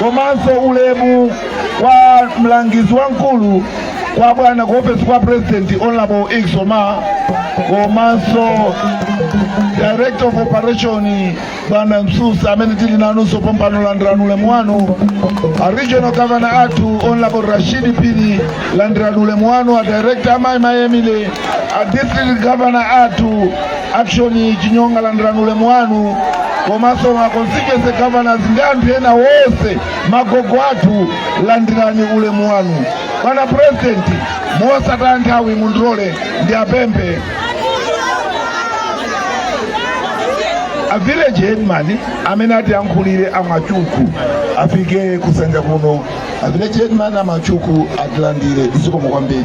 komanso ulemu kwa mlangizi wamkulu kwa bwana ku ofesi kwa puresidenti honorable Iksoma komanso director of operation bwana Msusa amene tili nawonso pompano landirani ulemu wanu a regional governor athu honorable Rashidi Pili landirani ulemu wanu a director amayi Mai Emily a district governor athu Action Chinyonga landirani ulemu wanu komanso ma constituency governors ndi anthu ena wonse magogo athu landirani ulemu wanu bwana president mosataya nthawi mundilole ndiapemphe a village headman amene atiyankhulire a Mkwachukwa afike kusanja kuno a village headman a Mkwachukwa atilandire zikomo kwambiri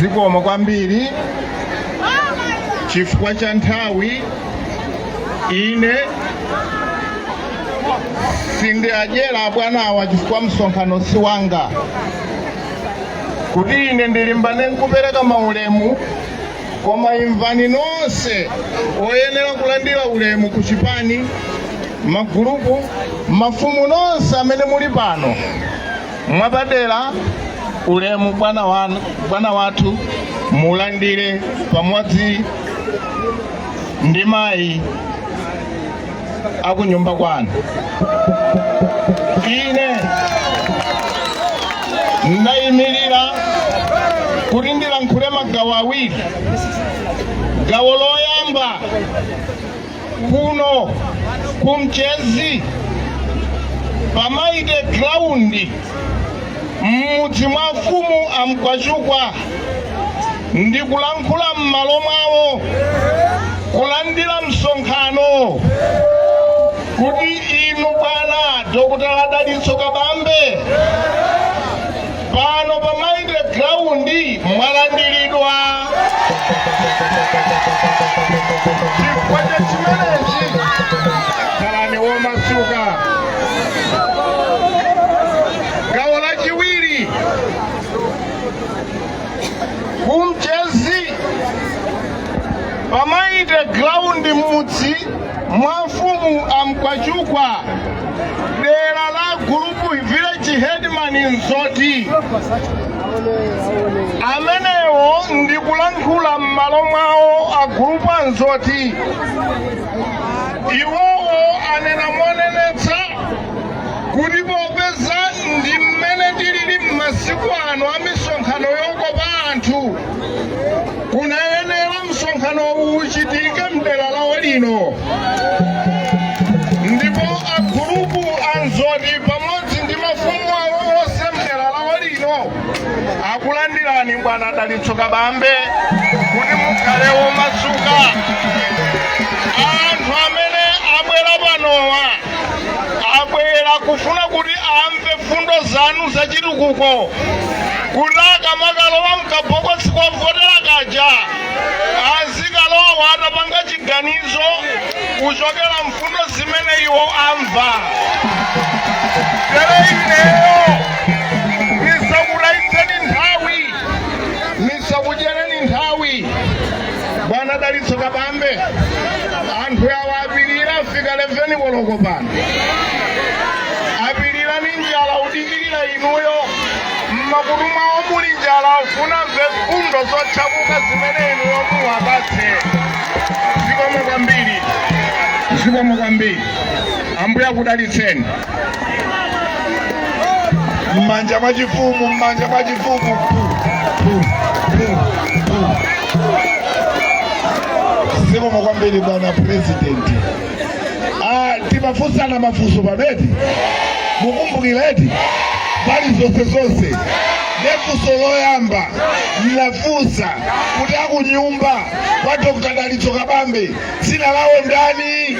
zikomo kwambiri chifukwa cha nthawi ine sindiadyera bwanawa chifukwa msonkhano si wanga kuti ine ndilimbane nkupereka maulemu koma imvani nonse oyenera kulandira ulemu ku chipani magulupu mafumu nonse amene muli pano mwapadera ulemu bwana wathu mulandire pamodzi ndi mayi akunyumba kwanu ine ndayimirira kuti ndilankhule magawo awiri gawo loyamba kuno ku Mchezi pa Mighty Ground m'mudzi mwa mfumu a Mkwachukwa ndi kulankhula m'malo mwawo, kulandira msonkhano, kuti inu bwana Dr. Dalitso Kabambe pano pa Mighty Ground mwalandiridwa chifukwa cha chimenechi khalani womasuka gawo lachiwiri ku Mchezi pa Mighty Ground m'mudzi mwa mfumu a Mkwachukwa dera la gulupu village headman Nzoti amenewo ndikulankhula m'malo mwawo a gulupu a Nzoti iwowo anena monenetsa kuti popeza ndi mmene tilili m'masiku ano a misonkhano yokopa anthu kunayenera msonkhano uwu uchitike mdera lawo lino ndipo agulupu a nzoti pamodzi ndi mafumu awo onse mdera lawo lino akulandirani bwana dalitso kabambe kuti mukhale womasuka anthu amene abwera panowa abwera kufuna kuti amve fundo zanu za chitukuko kuti akamakalowa mkabokosi kovotera kaja azikalowa atapanga chiganizo kuchokera mfundo zimene iwo amva tere ineyo bwana dalitso kabambe anthu awa apirira afika 11 koloko pano apirira ni njala udikirira inuyo mmakutu mwawo muli njala ufuna amve mfundo zotchakuka zimene inuyo muwapatse zikomo kwambiri zikomo kwambiri ambuye akudalitseni mmanja mwa chifumu mmanja mwa chifumu zikomo kwambiri bwana president ah, timafunsana mafunso paja eti mukumbukira eti mbali zonse zonse nde funso loyamba ndinafunsa kuti akunyumba kwa dr dalitso kabambe dzina lawo ndani?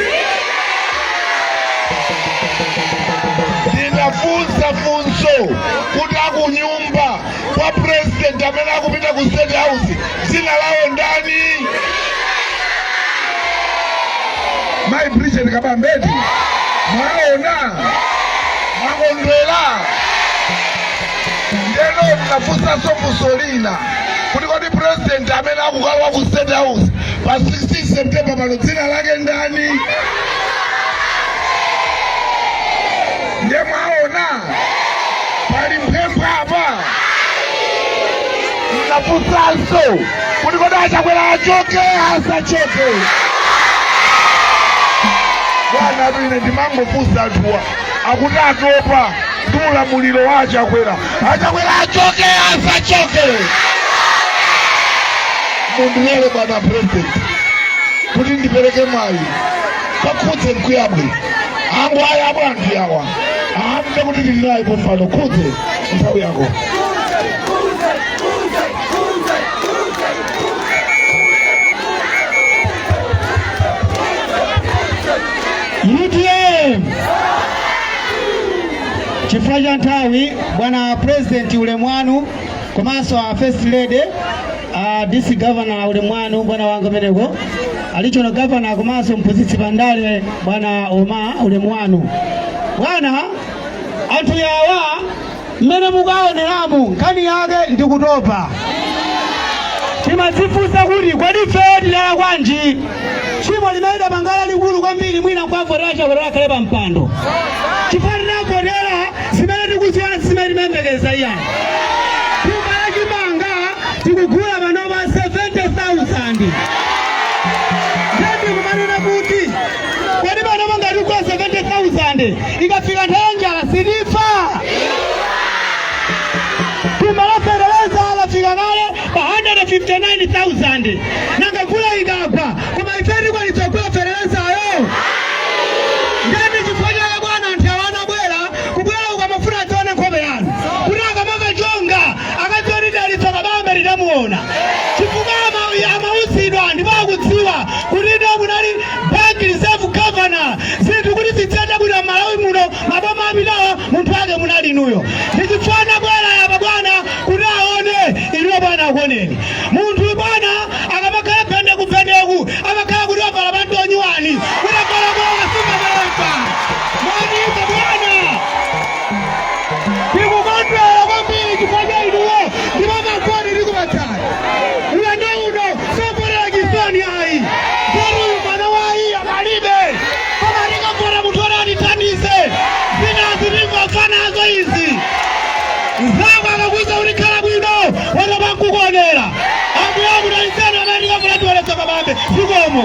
Ndinafunsa funso kuti akunyumba kwa president amene akupita ku state house dzina lawo ndani? Mai Bridget Kabambe eti, mwaona mwakondwera. Ndeno ndinafunsanso funso lina kuti kodi president amene akukalowa ku state house pa 16 september pano dzina lake ndani nde mwaona pali pempho apa ndinafunsanso kuti kodi a chakwera achoke asachoke bwana ine ndimangofunsa anthuwa akuti atopa ndi ulamuliro wa a chakwera a chakwera achoke asachoke mundilole bwana president kuti ndipereke mwayi kwa khuze mkuyabwe angu ayi abwa anthu yawa amve kuti tili naye pompano khuze nthawi yako UTM chifukwa cha nthawi bwana president ulemu wanu komanso a first lady a dc governor ulemu wanu bwana wanga umeneko a regional governor komanso mphunzitsi pandale bwana oma ulemu wanu bwana anthu yawa mmene mukaoneramu nkhani yake ndi kutopa timadzifunsa kuti kodi ifeyo tidalakwanji tchimo limene tidapanga lalikulu kwambiri mwina nkwavotera chakwera akhale pa mpando chifukwa tinavotera zimene tikuziona si zimene timayembekeza iyayi thumba la chimanga tikugula panopa 70000 ndikumanena kuti Kodi panopa ngati kwa 70,000 ikafika nthawi ya njala sitifa? Thumba la fertilizer lafika kale pa 159,000 nanga mvula ikagwa koma ife tikwanitsa kugula fertilizayo? Nde nchifukwa chake bwana anthu awa anabwera kubwera uku amafuna adzaone nkhope yanu kuti akamachoka akati dalitso kabambe tinamuona chifukwa ama- amauzidwa ndipo akudziwa kuti ndinu munali bank reserve governor zinthu kuti ziziyenda bwino malawi muno maboma apitawa munthu wake munali inuyo ndichifukwa anabwera yapa bwana kuti aone inuyo bwana akuoneni munthu bwana akamakhala pende kupendeku amakhala kuti wavala panti onyuwani kuti avala tikukondwera kwambiri chifukwa cha inuwo ndipo mavoti tikupatsani ulendo uno zovotera chisoni ayi zoti uyu mwana wa ayiya palibe koma tikavotera munthu oti atithandize zinazi tingofa nazo izi mzangu akakuuza kuti khala bwino watopa nkukuonera ambuye akudalitseni amene tikavotere dalitso kabambe zikomo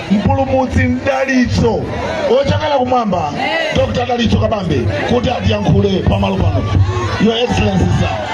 mpulumutsi mdalitso ochokera kumwamba dr dalitso kabambe kuti atiyankhule pamalo pano your excellency sir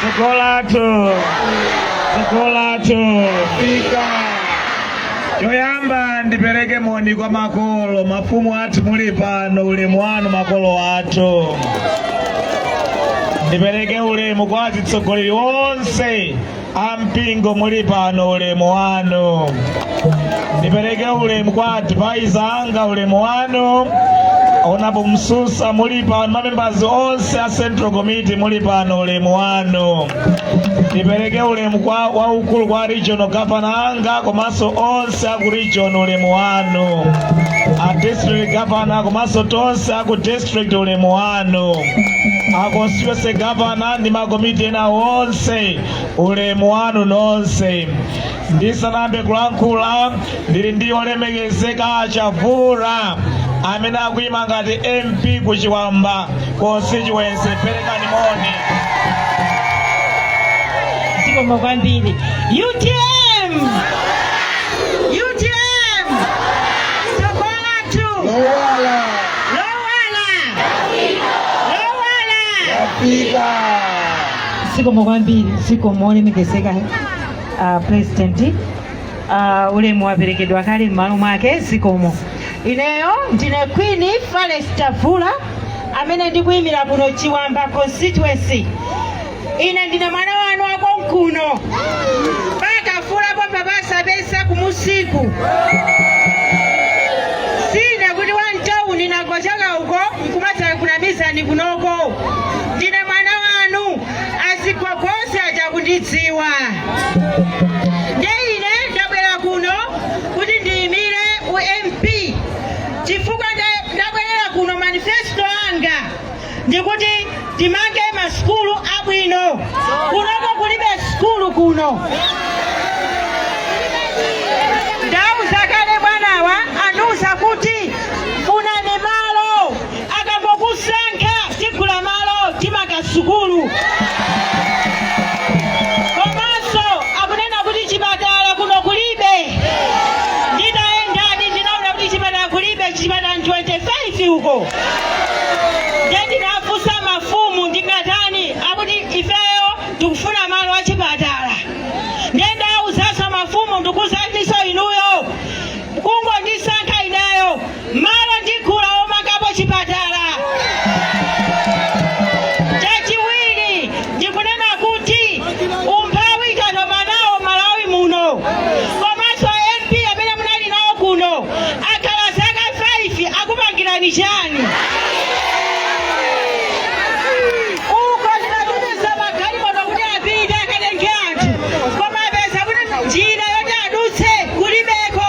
Tsogolo lathu, tsogolo lathu. Lafika. Choyamba ndipereke moni kwa makolo, mafumu athu muli pano, ulemu wanu makolo athu. Ndipereke ulemu kwa atsogoleri onse a mpingo muli pano, ulemu wanu. Ndipereke ulemu kwa advisor anga, ulemu wanu Honourable Msusa muli pano, mamembazi onse a Central Committee muli pano, ulemu wanu. Ndipereke ulemu waukulu kwa regional governor anga komanso onse aku region, ulemu wanu. A district governor komanso tonse aku district, ulemu wanu. A constituency governor ndi makomiti ena onse, ulemu wanu nonse. ndisanayambe kulankhula ndili ndi olemekezeka chavula amene akuyima ngati mp ku chiwamba constituency perekani moni zikomo kwambiri utm utm tsogolo lathu lowala lowala lowala pika zikomo kwambiri zikomo olemekezeka a president a ulemu waperekedwa kale m'malo mwake zikomo ineyo ndine queen falesi chavula amene ndikuyimira kuno chiwamba constituency ine ndine mwana wanu wakonkuno pakavula pomwe pasapesa kumusiku sindine kuti wam'tawuni ndangochoka uko nkumadzakunamizani kunoko ndine mwana azigogo onse aja akundidziwa nde ine ndabwera kuno kuti ndiyimire u mp chifukwa nda- ndabwerera kuno manifesto anga ndikuti timange masukulu abwino kunoko kulibe sukulu kuno ndauza kale bwanawa andiuza kuti funani malo akangokusankha tigula malo timanga sukulu komanso akunena kuti chipatala kuno kulibe ndidayendadi ndinaona kuti chipatala kulibe chipatala ndi 25 uko nde ndinafunsa mafumu ndingatani akuti ifeyo tikufuna malo a chipatala nde ndauzanso mafumu ndikuuzaninso inuyo kungondisankha ineyo Malo ndigula omangapo chipatala. Chachiwiri ndikunena kuti umphawi tatopa nawo Malawi muno. Komanso MP amene munali nawo kuno akhala zaka 5 akupangirani chani? Uko ndinatumiza magalimoto kuti apite akatenge anthu koma apeza kuti njira yoti adutse kulibeko.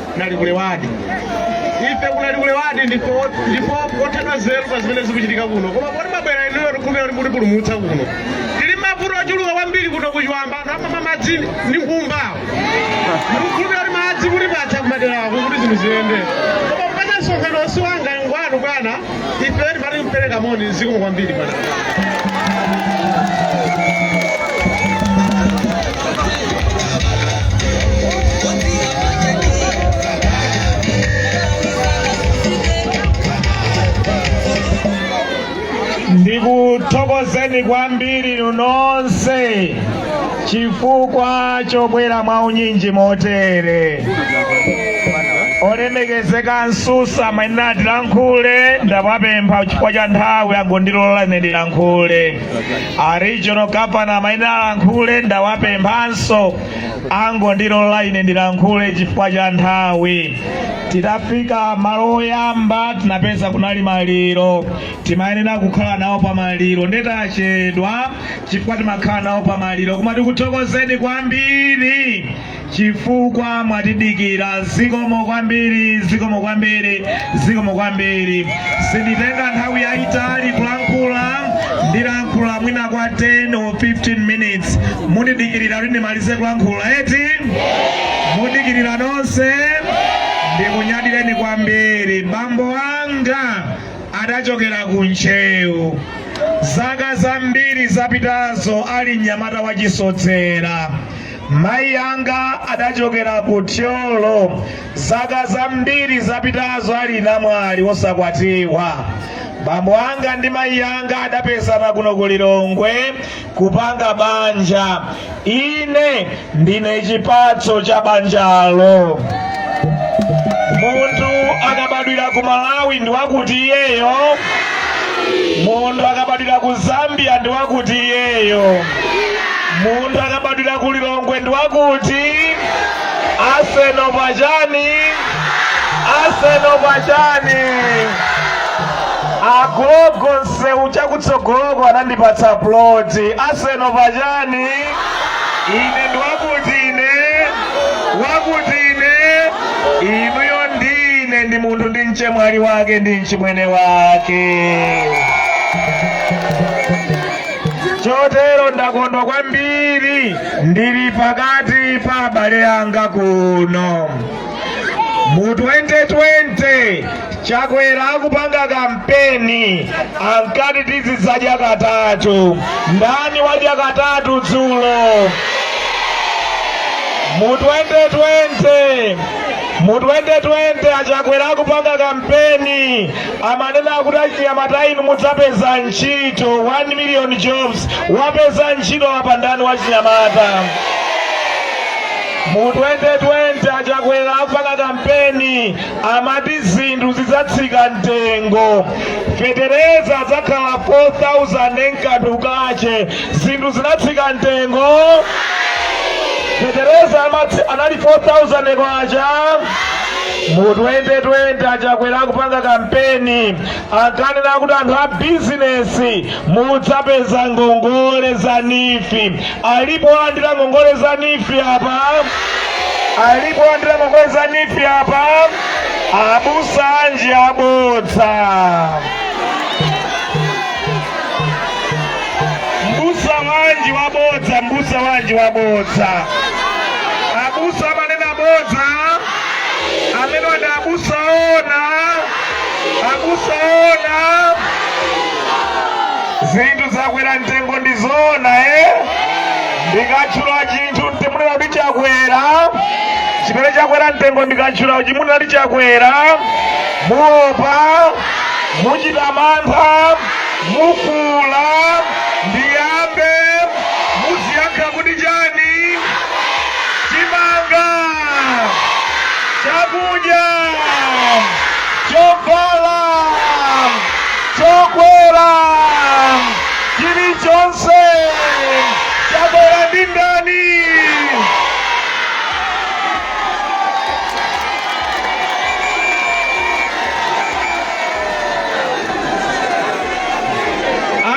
ku Nalikule wadi ife ku Nalikule wadi ndipo kothedwa nzeru pa zimene zikuchitika kuno koma poti mwabwera inuyo tikukhulupirira kuti mutipulumutsa kuno tili mavuto ochuluka kwambiri kuno ku Chiwamba anthu amamwa madzi ndi nkhumba tikukhulupirira kuti madzi mutipatsa kumaderako kuti zinthu ziyende koma kupata msonkhano si wanga ngwanu bwana Ife timati kupereka moni zikomo kwambiri bwana. ndikuthokozeni kwambiri nonse chifukwa chobwera mwa unyinji motere olemekezeka a Msusa amayenera atilankhule ndawapempha chifukwa cha nthawi angondilola ine ndilankhule a regional governor amayenera alankhule ndawapemphanso angondilola ine ndilankhule chifukwa cha nthawi titafika malo oyamba tinapeza kunali maliro timayenera kukhala nawo pa maliro nde tachedwa chifukwa timakhala nawo pa maliro koma tikuthokozeni kwambiri chifukwa mwatidikira zikomo kwambiri zikomo kwambiri zikomo kwambiri sinditenga nthawi yayitali kulankhula ndilankhula mwina kwa 10 or 15 minutes mundidikirira kuti ndimalize kulankhula eti mundidikirira nonse ndikunyadireni kwambiri bambo anga adachokera ku Ntcheu. Zaka zambiri zapitazo ali mnyamata wachisodzera, mayi anga adachokera ku Thyolo. Zaka zambiri zapitazo ali namwali wosakwatiwa, bambo anga ndi mayi anga adapezana kuno ku Lilongwe. kupanga banja ine ndine chipatso cha banjalo munthu akabadwira ku malawi ndi wakuti iyeyo munthu akabadwira ku zambia ndi wakuti iyeyo munthu akabadwira ku lilongwe ndi wakuti aseno pachani aseno pachani agogo msewu chakutsogoloko anandipatsa ploti aseno pachani ine ndi wakuti ine wakuti ine inuyo ndine ndi munthu ndi mchemwali wake ndi mchimwene wake chotero ndakondwa kwambiri ndili pakati pa abale anga kuno mu 2020 chakwera akupanga kampeni ankati tizidzadya katatu ndani wadya katatu dzulo mu 2020 mu 2020 achakwera akupanga kampeni amanena kuti achinyamata inu mudzapeza ntchito 1 million jobs wapeza ntchito apa ndani wachinyamata mu 2020 achakwera akupanga kampeni amati zinthu zidzatsika mtengo fetereza adzakhala 4000 nkanthu kake zinthu zinatsika mtengo fetereza amatsi- anali 4000 kwacha mu 2020 achakwera akupanga kampeni Ankanena kuti anthu a bizinesi mudzapeza ngongole za NEEF. Alipo walandira ngongole za NEEF apa? Alipo walandira ngongole za NEEF apa? Abusa anji abodza. Mbusa wanji wabodza, mbusa wanji wabodza. Abusa amanena bodza, amenewo ndi abusa oona. abusa oona zinthu zakwera mtengo ndi zoona eh? ndikatchula chinthu muzinena kuti chakwera chimene chakwera mtengo ndikatchula muzinena kuti chakwera muopa muchita mantha mukula ndiyambe muziyankha kuti chani chimanga chakudya chovala chokwera chilichonse chakwera ndi ndani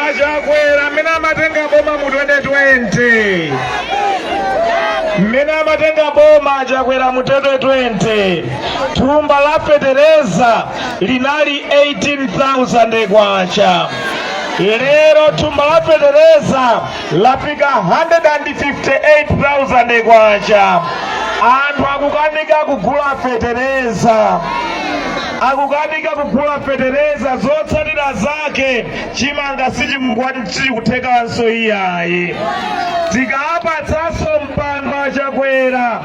achakwera mmene amatenga boma mu 2020 mmene amatenga boma achakwera mu 2020 thumba la fetereza linali 18,000 kwacha lero thumba la fetereza lafika 158,000 kwacha anthu akukanika kugula fetereza akukanika kugula fetereza zotsatira zake chimanga sichikukwati sichikuthekanso iyayi tikawapatsanso mpando achakwera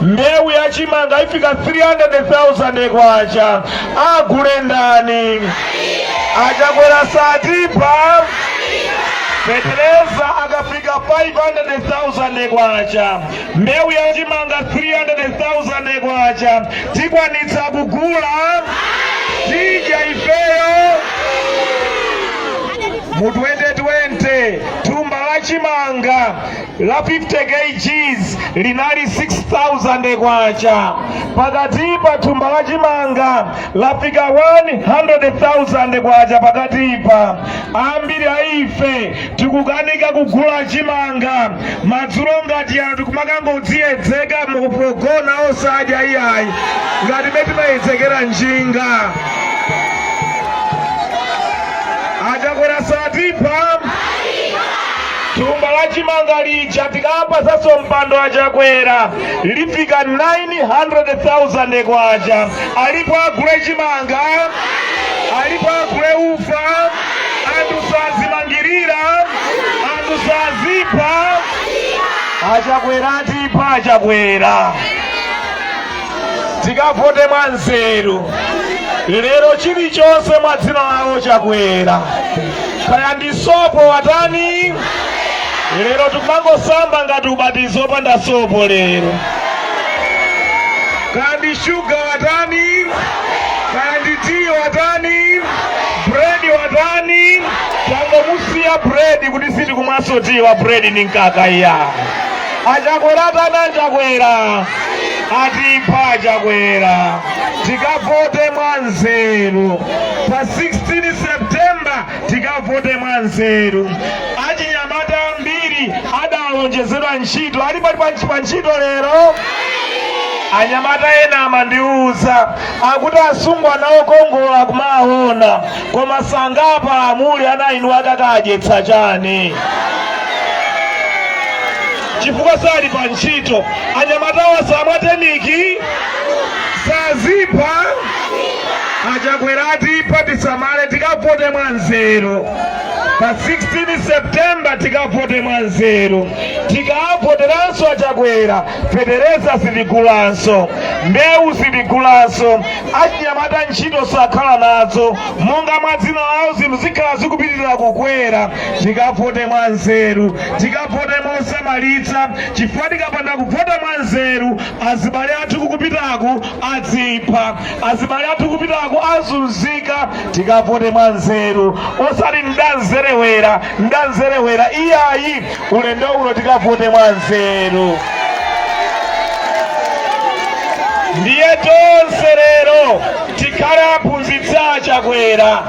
mbewu ya chimanga ifika 300,000 kwacha agule ndani achakwera satipha fetereza akafika 500,000 kwacha mbewu ya chimanga 300,000 kwacha tikwanitsa kugula tidya ifeyo mu 2020 thumba la chimanga la 50 kgs linali 6000 kwacha pakalipa thumba la chimanga lafika 100000 kwacha pakalipa ambiri a ife tikukanika kugula chimanga madzulo ngati ano tikumakangodziyedzeka mukugona osadya iyayi ngati mmene timayedzekera njinga achakwera satipha thumba la chimanga lija tikapasanso mpando achakwera lifika 900,000 kwacha alipo agule chimanga alipo agule ufa anthu sazimangirira anthu sazipha achakwera atipha achakwera tikavote mwa nzeru lero chilichonse mwadzina lawo chakwera kaya ndi sopo watani lero tikumangosamba ngati ubatizo opanda sopo lero kaya ndi shuga watani kaya ndi tiyi watani bredi watani tangomusiya bredi kuti sitikumwanso tiyi wa bredi ni mkaka iya achakwera atani achakwera atipha achakwera tikavote mwa nzeru pa 16 septemba tikavote mwa nzeru achinyamata ambiri adalonjezedwa ntchito ali pali pa- pa ntchito lero anyamata ena amandiuza akuti asungwana okongola akumaona koma sangapange amuli ana inu akakadyetsa chani chifukwa sali pa ntchito anyamatawa samwa temiki sazipha achakwera atipha tisamale tikavote mwa nzeru pa 16 septemba tikavote mwa nzeru tikavoteranso achakwera fetereza sitigulanso mbewu sitigulanso achinyamata ntchito sakhala nazo monga mwa dzina lawo zinthu zikhala zikupitirira kukwera tikavote mwa nzeru tikavote mosamalitsa chifukwa tikapanda kuvota mwa nzeru azibale athu kukupitaku adzipha azibale athu kupitaku azunzika tikavote mwa nzeru osati mwamzerewera mwamzerewera iyayi ulendo uno tikavote mwa nzeru ndiye tonse lero tikhale aphunzitsi achakwera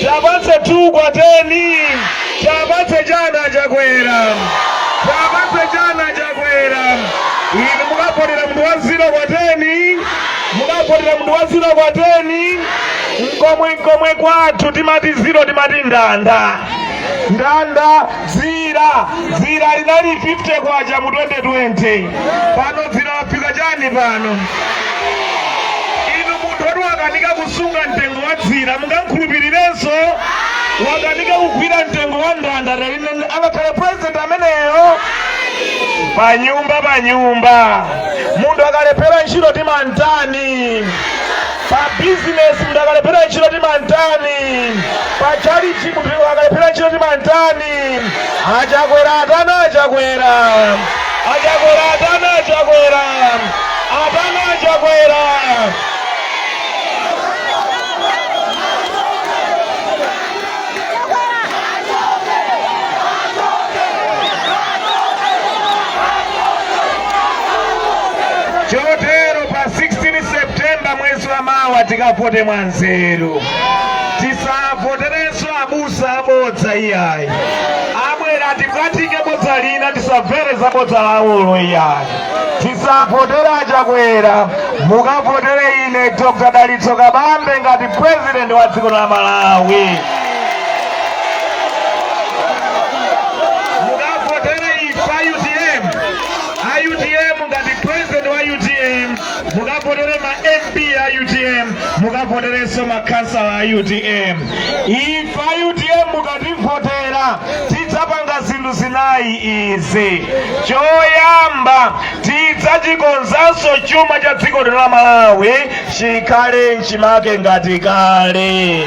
Tiapatse 2 kwa 10 tiapatse chani a Chakwera tiapatse chani a Chakwera inu mukavotera munthu wa ziro kwa 10 mukavotera munthu wa ziro kwa 10 mkomwe mkomwe kwathu timati ziro timati ndanda ndanda dzira dzira linali 50 kwacha mu 2020 pano dzira lafika chani pano inu munthu woti wakanika kusunga mtengo wa dzira mungamkhulupirirenso wakanika kugwira mtengo wa ndanda taline angakhale president ameneyo panyumba panyumba munthu akalephera ntchito timamtani Pa business munthu akalephera ntchito timamtani? Pa tchalitchi munthu akalephera ntchito timamtani? A Chakwera atani a Chakwera? A Chakwera atani a Chakwera? Atani a Chakwera? Chotero pa 16 September mwezi wa mawa tikavote mwa nzeru, tisavoterenso abusa abodza iyayi. Abwera atibwatike bodza lina, tisamvere za bodza lawolo iyayi. tisavotere a Chakwera mukavotere ine dr dalitso kabambe ngati president wa dziko la malawi mukavotere ife a utm a utm ngati president wa utm mukavotere ma mp a utm mukavoterenso makhansala a utm ife a utm mukativotera tidzapanga zinthu zinayi izi choyamba tidzachikonzanso chuma cha dziko lino la malawi chikhale mchimake ngati kale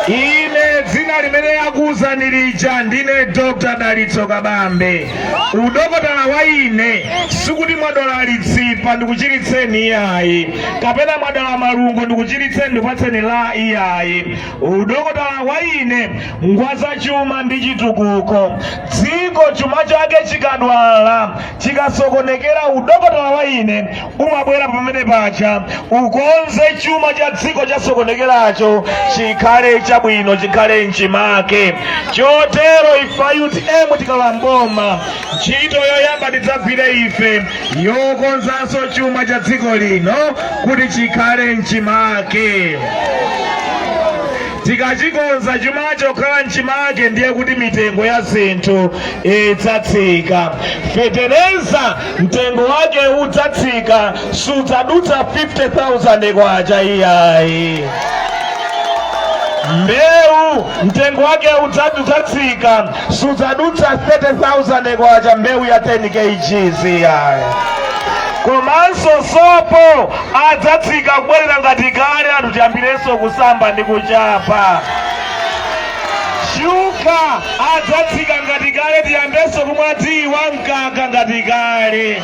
ine dzina limene akuwuzani lija ndine dr dalitso kabambe udokotala wa ine sikuti mwadwala litsipa ndikuchiritseni iyayi kapena mwadwala malungo ndikuchiritseni ndipatseni la iyayi udokotala wa ine ngwa zachuma ndi chitukuko dziko chuma chake chikadwala chikasokonekera udokotala wa ine umabwera pamenepaja ukonze chuma cha dziko chasokonekeracho chikhale chabwino chikhale mchimake chotero ife a utm tikalowa m'boma Ntchito yoyamba tidzagwire ife yokonzanso chuma cha dziko lino kuti chikhale mchimake. Tikachikonza chumacho kukhala mchimake ndiye kuti mitengo ya zinthu idzatsika. Fetereza mtengo wake udzatsika, sudzadutsa 50,000 kwacha iyayi. Mbewu mtengo wake udzatsika, sudzadutsa 30,000 kwacha mbewu ya 10 kgs iyayi komanso sopo adzatsika kubwerera ngati kale anthu tiyambirenso kusamba ndi kuchapa shuga adzatsika ngati kale tiyambenso kumwa tiyi wa mkaka ngati kale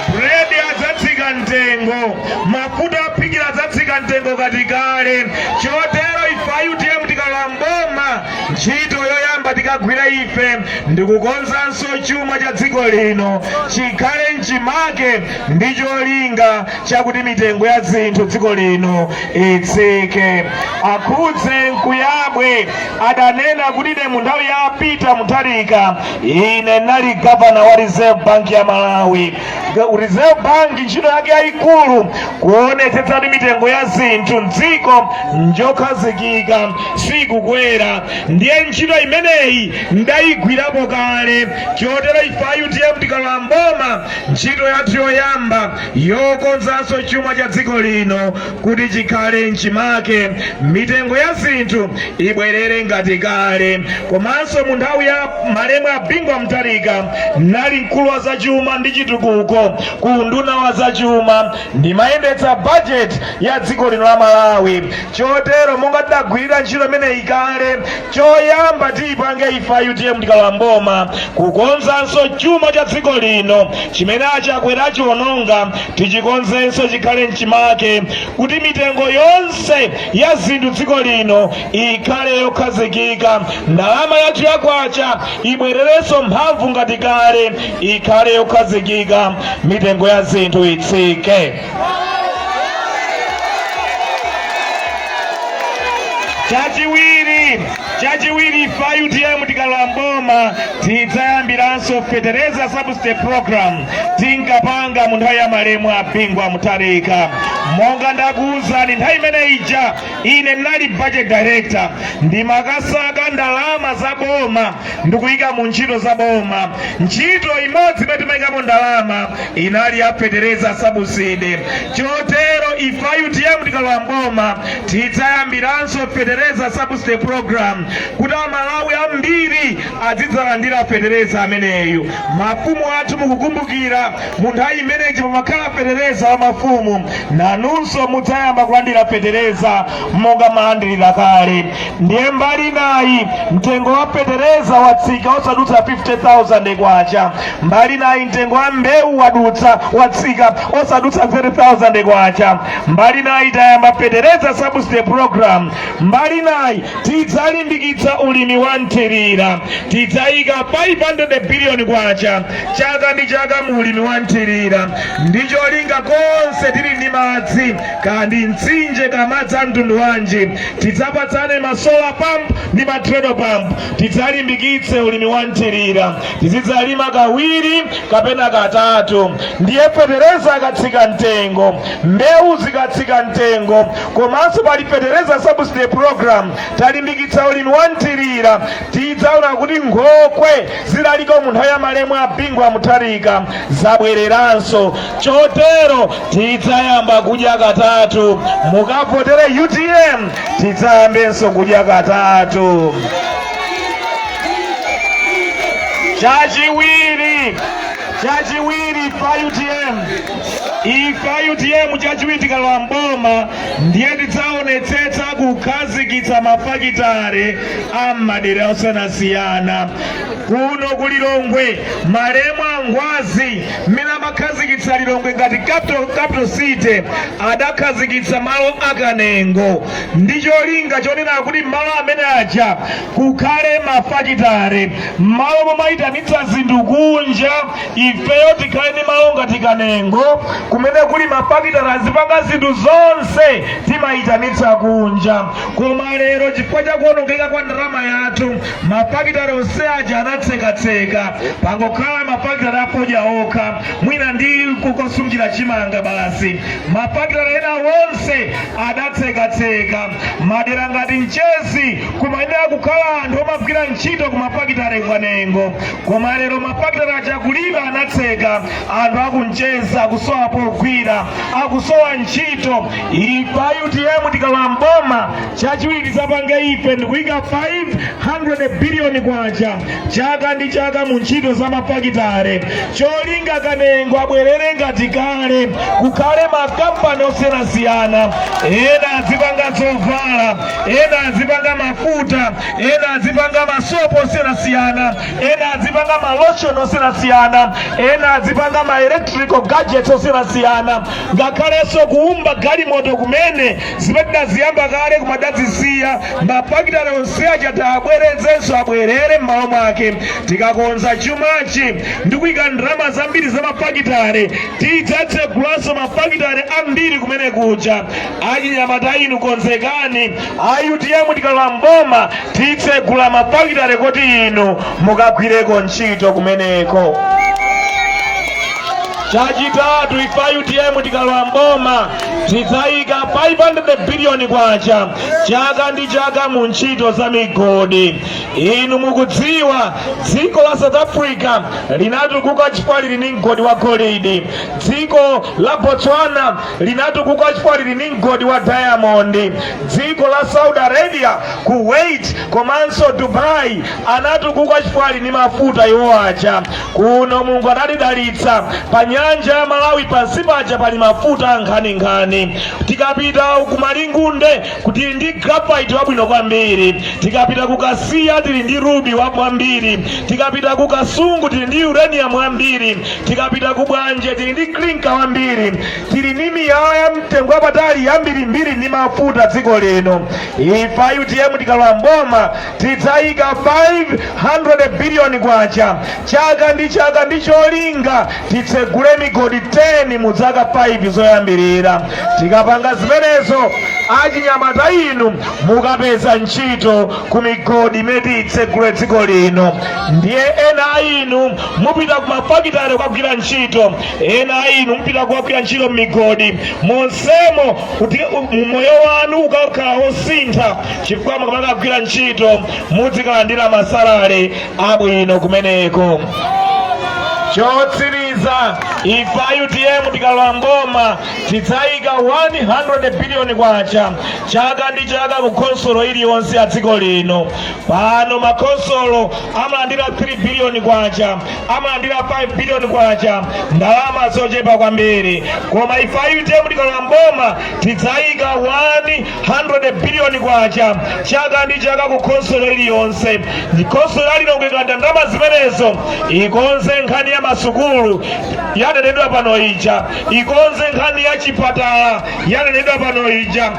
bredi adzatsika mtengo mafuta ophikira adzatsika mtengo ngati kale chotero ife a utm tikalowa mboma ntchito yoyamba tikagwira ife ndikukonzanso chuma cha dziko lino chikhale mchimake ndi cholinga chakuti mitengo ya zinthu dziko lino itsike a kunjenkuyabwe adanena kuti ine mu nthawi ya peter mutharika ine nali gavana wa reserve bank ya malawi reserve bank ntchito yake yayikulu kuonetsetsa kuti mitengo ya zinthu mdziko njokhazikika sikukwera ndiye ntchito imeneyi ndayigwirapo kale chotero ife a utm tikalowa mboma ntchito yathu yoyamba yokonzanso chuma cha dziko lino kuti chikhale mchimake mitengo ya zinthu ibwerere ngati kale komanso mu nthawi ya malemu a bingu wa mutharika nali mkulu wa zachuma ndi chitukuko ku unduna wa zachuma ndimayendetsa bajeti ya dziko lino la malawi chotero monga tidagwirira ntchito imeneyi kale Choyamba tiipange ife a utm tikalowa mboma kukonzanso chuma cha dziko lino chimene a chakwera achiwononga tichikonzenso chikhale mchimake kuti mitengo yonse ya zinthu dziko lino ikhale yokhazikika ndalama yathu ya kwacha ibwererenso mphamvu ngati kale ikhale yokhazikika mitengo ya zinthu itsike chachiwiri ife a utm tikalowa mboma tidzayambiranso fetereza subsidy program tinkapanga mu nthawi ya malemu a bingu wa mutharika monga ndakuwuzani nthawi imene ija ine ndinali budget director ndimakasaka ndalama za boma ndikuyika mu ntchito za boma ntchito imodzi imene timayikapo ndalama inali ya fetereza subsidy chotero ife a utm tikalowa mboma tidzayambiranso fetereza subsidy program kuti amalawi ambiri adzidzalandira fetereza ameneyu. Mafumu athu mukukumbukira, mu nthawi imeneyi pamakhala fetereza wa mafumu, nanunso mudzayamba kulandira fetereza monga mmalandilira kale. Ndiye mbali inayi mtengo wa fetereza watsika osadutsa 50,000 kwacha, mbali inayi mtengo wa mbewu wadutsa watsika osadutsa 30,000 kwacha, mbali inayi tayamba fetereza subsidy program, mbali inayi tidzalimbikitsa ulimi wa mthirira tidzayika 500 biliyoni kwacha chaka ndi chaka mu ulimi wa mthirira ndi cholinga konse tili ndi madzi kaya ndi mtsinje kaya madzi a mtundu wanji tidzapatsane ma solar pump ndi ma treadle pump tidzalimbikitse ulimi wa mthirira tizidzalima kawiri kapena katatu ndiye fetereza akatsika mtengo mbewu zikatsika mtengo komanso pali fetereza subsidy program talimbikitsa ulimi wa nthirira tidzaona kuti nkhokwe zilaliko mu nthawi ya malemu a bingu wa mutharika zabwereranso chotero tidzayamba kudya katatu mukavotere utm tidzayambenso kudya katatu chachiwiri pa utm ife a utm chachiwiri tikalowa mboma ndiye tidzaonetsetsa kukhazikitsa mafakitare a m'madera osiyanasiyana kuno ku lilongwe malemu angwazi mmene amakhazikitsa lilongwe ngati capital city adakhazikitsa malo akanengo ndi cholinga chonena kuti malo amene aja kukhale mafakitare mmalo momayitanitsa zinthu kunja ifeyo tikhale ndi malo ngati kanengo kumene kuli mafakitare azipanga zinthu zonse timayitanitsa kunja koma lero chifukwa cha kuonongeka kwa ndalama yathu mafakitare onse aja anatsekatseka pangokhala mafakitare afodya okha mwina ndi kukosungira chimanga basi mafakitare ena onse adatsekatseka madera ngati mchezi kumayenera kukhala anthu omagwira ntchito ku mafakitare ku kanengo koma lero mafakitale aja kulibe anatseka anthu aku mchezi akusowa pogwira akusowa ntchito ife a utm tikalowa mboma chachiwiri tizapange ife ndikuyika 500 biliyoni kwacha chaka ndi chaka mu ntchito za mafakitale cholinga kanengo abwerere ngati kale kukhale makampani osiyanasiyana ena azipanga zovala ena azipanga mafuta ena adzipanga masopo osiyanasiyana ena adzipanga malotion osiyanasiyana ena adzipanga ma electrical gadgets osiyanasiyana ngakhalenso kuumba galimoto kumene zimene tidaziyamba kale koma tidazisiya mafakitale onse aja tiwabwezerenso abwerere m'malo mwake tikakonza chumachi ndi kuyika ndalama zambiri za mafakitale tidzatsegulanso mafakitale ambiri kumene kuja achinyamata inu konzekani a utm tikalowa mboma titsegula mafakitale kuti inu mukagwireko ntchito kumeneko chachitatu ife a utm tikalowa mboma tidzayika 500 biliyoni kwacha chaka ndi chaka mu ntchito za migodi inu mukudziwa dziko la south africa linatukuka chifukwa lili ndi mgodi wa golidi dziko la botswana linatukuka chifukwa lili ndi mgodi wa diamondi dziko la saudi arabia kuwait komanso dubai anatukuka chifukwa ali ndi mafuta iwo aja kuno mulungu anatidalitsa pa nyanja ya malawi pansi paja pali mafuta ankhaninkhani tikapita ku malingunde tili ndi graphite wabwino kwambiri tikapita ku kasiya tili ndi rubi wabwino kwambiri tikapita ku kasungu tili ndi uranium wambiri tikapita ku bwanje tili ndi klinka wambiri tili ndi miyala ya mtengo wapatali yambirimbiri ndi mafuta dziko lino ife a utm tikalowa mboma tidzayika 500 biliyoni kwacha chaka ndi chaka ndi cholinga titsegule migodi 10 mu zaka 5 zoyambirira tikapanga zimenezo achinyamata inu mukapeza ntchito ku migodi imene tiitsegule dziko lino ndiye ena a inu mupita kumafakitale kukagwira ntchito ena a inu mupita kukagwira ntchito m'migodi monsemo kuti u- moyo wanu ukakhala wosintha chifukwa mukamakagwira ntchito mudzikalandira masalale abwino kumeneko chotsiriza ife a utm tikalowa mboma tidzayika 100 biliyoni kwacha chaka ndi chaka ku khonsolo iliyonse ya dziko lino pano makhonsolo amalandira 3 biliyoni kwacha amalandira 5 biliyoni kwacha ndalama zochepa kwambiri koma ife a utm tikalowa mboma tidzayika 100 biliyoni kwacha chaka ndi chaka ku khonsolo iliyonse ndiye khonsolo ya lilongwe ikalandira ndalama zimenezo ikonze nkhani ya masukulu yanenedwa pano ija ikonze nkhani ya chipatala yanenedwa pano ija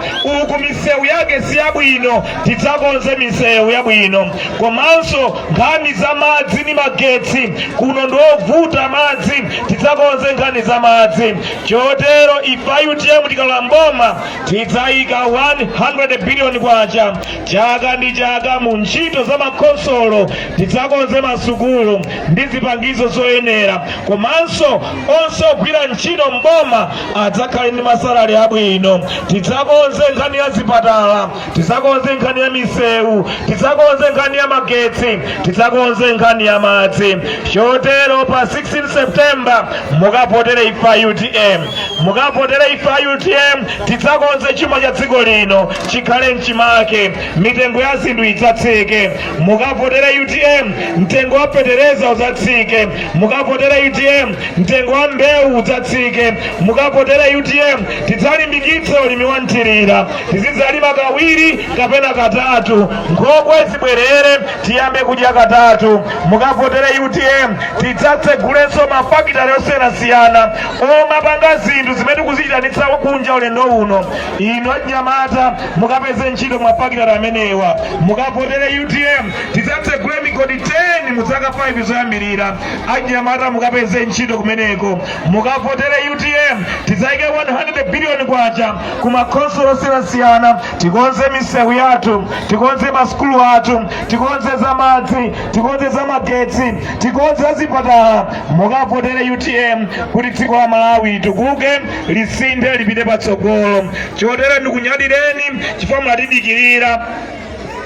uku misewu yake si yabwino tidzakonze misewu yabwino komanso nkhani za madzi ndi magetsi kuno ndiovuta madzi tidzakonze nkhani za madzi chotero ifa a utm tikalowa mboma tidzayika 100 biliyoni kwacha chaka ndi chaka mu ntchito za makhonsolo tidzakonze masukulu ndi zipangizo zoyenera komanso onse ogwira ntchito mboma adzakhale ndi masalari abwino tidzakonze nkhani ya zipatala tidzakonze nkhani ya misewu tidzakonze nkhani ya magetsi tidzakonze nkhani ya madzi chotero pa 16 september mukavotere ifa a utm mukavotere ifa a utm tidzakonze chuma cha dziko lino chikhale mchimake mitengo ya zinthu idzatsike mukavotere utm mtengo wa fetereza udzatsike mukavotere utm mtengo wa mbewu udzatsike mukavotere utm tidzalimbikitsa ulimi wa mthirira tizidzalima kawiri kapena katatu nkhokwe zibwerere tiyambe kudya katatu mukavotere utm tidzatsegulenso mafakitale osiyanasiyana omapanga zinthu zimene tikuziitanitsa kunja ulendo uno inu anyamata mukapeze ntchito m'mafakitale amenewa mukavotere utm tidzatsegule migodi 10 mu zaka 5 zoyambirira anyamata mukapeze ntchito kumeneko mukavotere utm tidzayike 100 biliyoni kwacha ku makhonsolo osiyanasiyana tikonze misewu yathu tikonze masukulu athu tikonze za madzi tikonze za magetsi tikonze za zipatala mukavotere utm kuti dziko la malawi litukuke lisinthe lipite patsogolo chotero ndikunyadireni chifukwa munatidikirira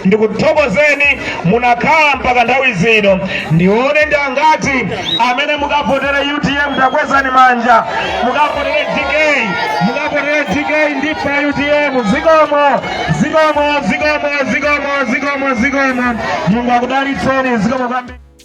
ndikuthokozeni munakhala mpaka nthawi zino ndione ndi angati amene mukavotere utm takwezani manja mukavotere dk mukavotere dk ndi ifa a utm zikomo zikomo zikomo zikomo zikomo zikomo mulungu akudalitseni zikomo kwambiri